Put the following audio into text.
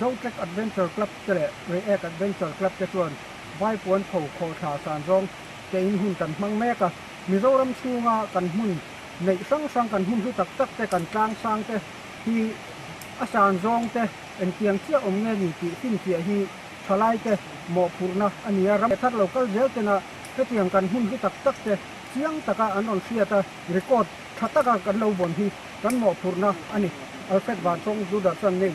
Zotrek Adventure Club te leh React Adventure Club te chuan vaipuan tho khawhthla san zawng keiin hun kan hmang mek a. Mizoram chhunga kan hmun neih hrang hrang, kan hmun hlu tak tak te, kan tlang sang te hi a san zawng te engtiang chiah awm nge ni tih fimfiah hi thalai te mawhphurhna a ni a. Ram leh thar lo kal zel tena hetiang kan hmun hlu tak tak te chiang taka an rawn hriat a, record tha taka kan lo vawn hi kan mawhphurhna a ni. Alfred Vanchawng Judah chuan Nei.